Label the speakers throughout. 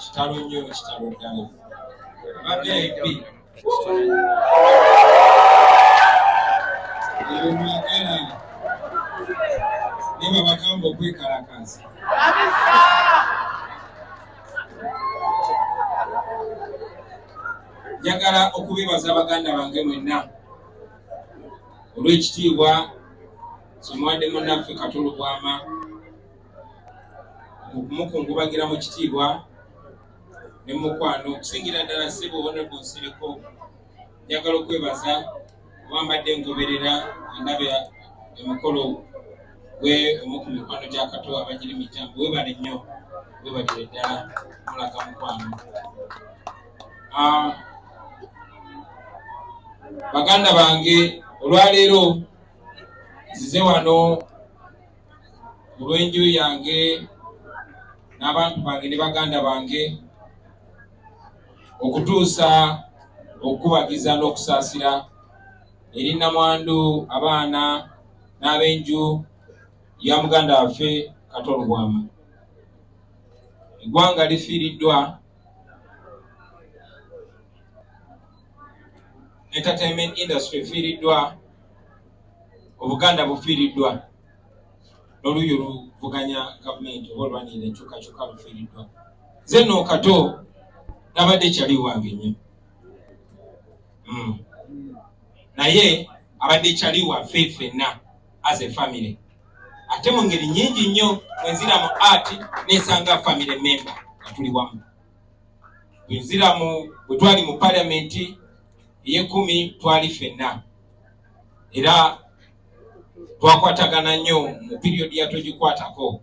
Speaker 1: kitalo nnyo kitalo ddala bavip ebimwagala naye babagamba okwekalakaza njagala okubebaza baganda bange mwenna olw'ekitiibwa kyemuwadde munaffe katolo bwama okumukungubagira mu kitiibwa ne mukwano okusingira ddala ssebo honorable nsereko njagala okwebaza oba mbadde ngoberera endaba emukolo gwe omu ku mikwano gya kato abagiri mitambo webale nnyo webalire ddala mulaga mukwano ah, baganda bange olwaleero nzize wano mu lw'enju yange n'abantu bange ne baganda bange okutuusa okukubagiza n'okusaasira eri namwandu abaana n'ab'enju ya muganda waffe kato lubwama eggwanga lifiiriddwa entertainment industry efiiriddwa obuganda bufiiriddwa noluuyi oluvuganya gavumenti oba olwanira enkyukakyuka lufiiriddwa nze no kato nabadde kyali wange nyo hmm. naye abadde kyali waffe fenna as a family ate mu ngeri nyingi nnyo wenzira mu art nesanga family member nga tuli wamu wenzira mu bwetwali mu palamenti eyekumi twali fenna era twakwatagana nnyo mu piriyodi yatogikwatako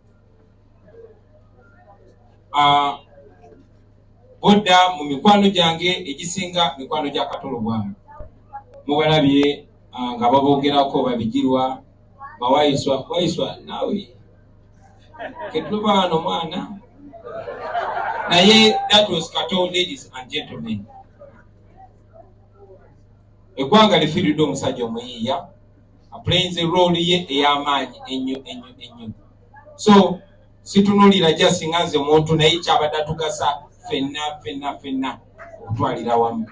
Speaker 1: ah, bodda mu mikwano gyange egisinga mikwano gya katolo bwamu mubalabye ah, nga babogerako babigirwa bawayiswa wayiswa naawe ketuba wano mwana naye that was kato ladies and gentlemen eggwanga lifiiridde omusajja omuyiiya aplayinze rooli ye ey'amaanyi ennyo ennyo ennyo so situnulira jasi nga nze muntu naye kyabadde atugasa fenna fenna fenna okutwalira wamu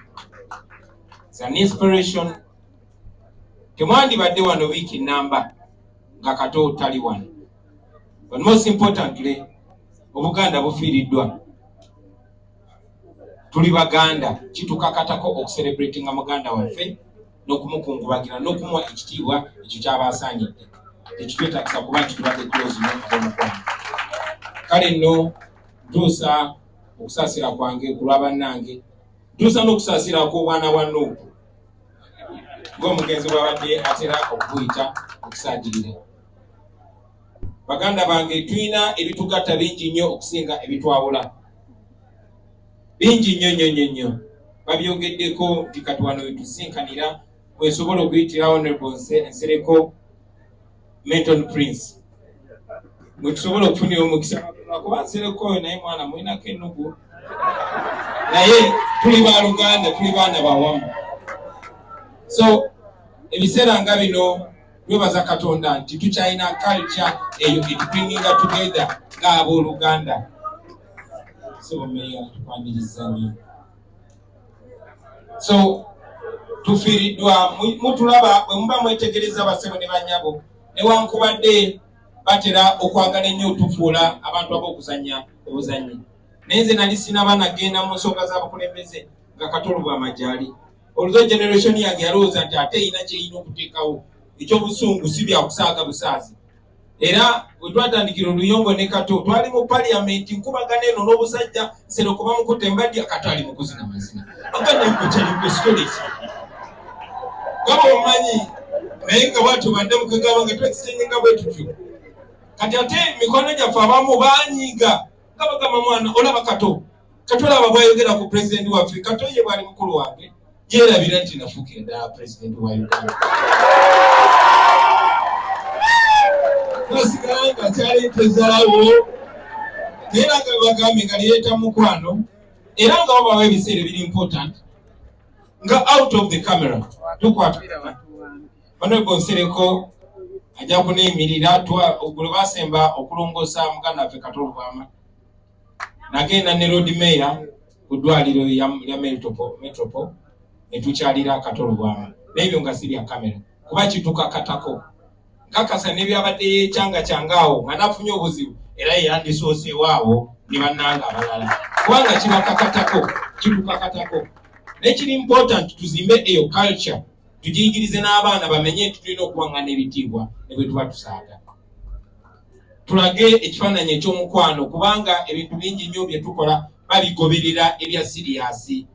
Speaker 1: an inspiration temwandibadde wano wiiki namba nga kato tali wano but most importantly obuganda bufiiriddwa tuli baganda kitukakatako okuserebratinga muganda waffe n'okumukungubagira n'okumuwa ekitiibwa ekyo kyaba asaanidde tekitwetagisa kuba nti tubadde tulozino abomukwano kale nno ntuusa okusaasira kwange ku lwa bannange ntuusa n'okusaasira kw'obwana bwa nuupu ng'omugenzi bwabadde atera okubuyita okusaagirira baganda bange tulina ebitugatta bingi nnyo okusinga ebitwawula bingi nnyo nnyo nnyo nnyo babyogeddeko nti kati wano wetusinkanira wesobola okuyitira honorable nsereko menton prince mwetusobola okufunira omukisa kuba nsereko oyo naye mwana mulinako enugu naye tuli ba luganda tuli baana bawamu so ebiseera nga bino twebaza katonda nti tukyalina culture eyo etubringinga together nga abooluganda sibomeya tukwaniriza nnyo so tufiiriddwa mutulaba bwe muba mwetegereza basebo ne banyabo newankubadde batera okwagala ennyo otufuula abantu ab'okuzanya obuzanyi naye nze nali sinaba nagenda mu nsonga z'abakulembeze nga katolo bw'amajali olwo generation yange yalowooza nti ate erina kyerina okuteekawo ekyobusungu si byakusaaga busaazi era wetwatandikira oluyombo ne kato twali mu paliyamenti nkubagana eno n'obusajja serokuba mukutte mbadya kato ali mukuzina mazina aganekukyalikwesitoleki gaba omanyi naye nga bwatyo badde mukagaba nga twekisengeka bwe tutyo kati ate mikwano gyaffe abamu banyiiga nga bagamba mwana olaba kato katulaba bwayogera ku pulezidenti waffe katoye bwali mukulu wange yerabira nti nafuuka endala pulezidenti wa uganda nasigala nga kyali tezalawo naye nanga bagambe nga lireeta mukwano era nga wabawo ebiseera ebiri important nga out of the camera tukwata banwebwe nsereko ajja kuneyimirira gwe basemba okulongoosa muganda waffe katolubwama nagenda ne lord mayor ku ddwaliro lya metropol netukyalira akatolo bwama naebyo nga sibya kamera kuba kitukakatako nkakasa nebyabadde yekyanga kyangaawo nga nafunye obuzibu era yeyandisooseewaawo ne bannanga abalala kubanga kibakakatako kitukakatako naye kiri important tuzimbe eyo culture tugiyigirize n'abaana bamenye nti tulina okuwangana ebitiibwa ne bwe tuba tusaaga tulage ekifaananyi eky'omukwano kubanga ebintu bingi nnyo bye tukola babigoberera ebya siriyaasi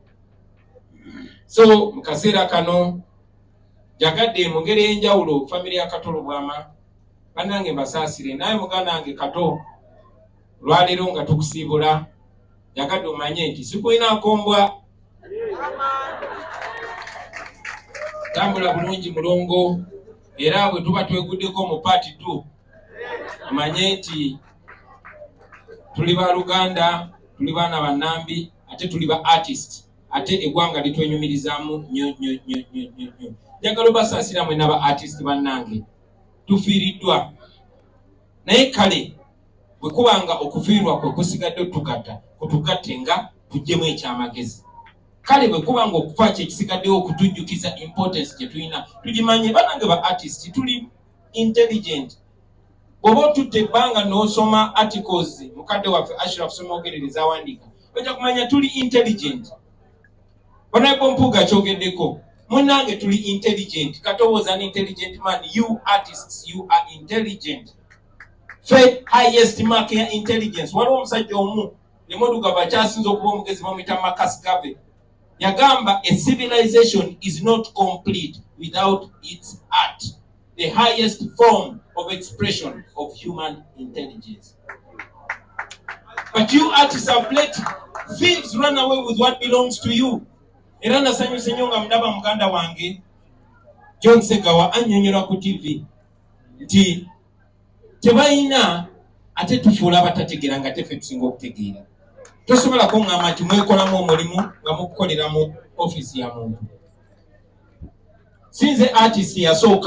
Speaker 1: so mu kaseera kano njagadde mu ngeri ey'enjawulo famire ya kato lubwama bannange mbasaasire naye muganda wange kato olwaleero nga tukusiibula njagadde omanye nti sikulinaako mbwa tambula bulungi mulongo era bwe tuba tweguddeko mu paati tu omanye nti tuli ba luganda tuli baana banambi ate tuli ba artist ate egwanga litwenyumirizamu nyo nyo nyo nyo nyo nyo njagala obasaasira mwena ba artist bannange tufiiriddwa naye kale bwe kuba nga okufiirwa kwe kusigadde otugatta kutugatte nga tujjemu ekyamagezi kale bwe kuba nga okufa kye kisigaddewo okutujjukiza importance gye tulina tugimanye banange ba artist tuli intelligent bw'oba otutte ebbanga n'osoma articles mukadde waffe ashraf somogerere zawandiika oja kumanya tuli intelligent banaeko mpuuga kyogeddeko munange tuli intelligent katowooza ni intelligent man you artists you are intelligent fe highest mark ya intelligence waliwo omusajja omu emoduka bakyasinza okuba omugezi bamuyita makas gave yagamba a civilization is not complete without its art the highest form of expression of human intelligence but you artists have let thieves run away with what belongs to you era nasanyuse nyo nga mudaba muganda wange john segawa anyonyola ku tv nti tebalina ate tufuula abatategeera nga tefe tusinga okutegeera tosobola kuŋŋamba nti mwekolamu omulimu nga mukukolera mu ofiisi ya muntu sinze artist yasooka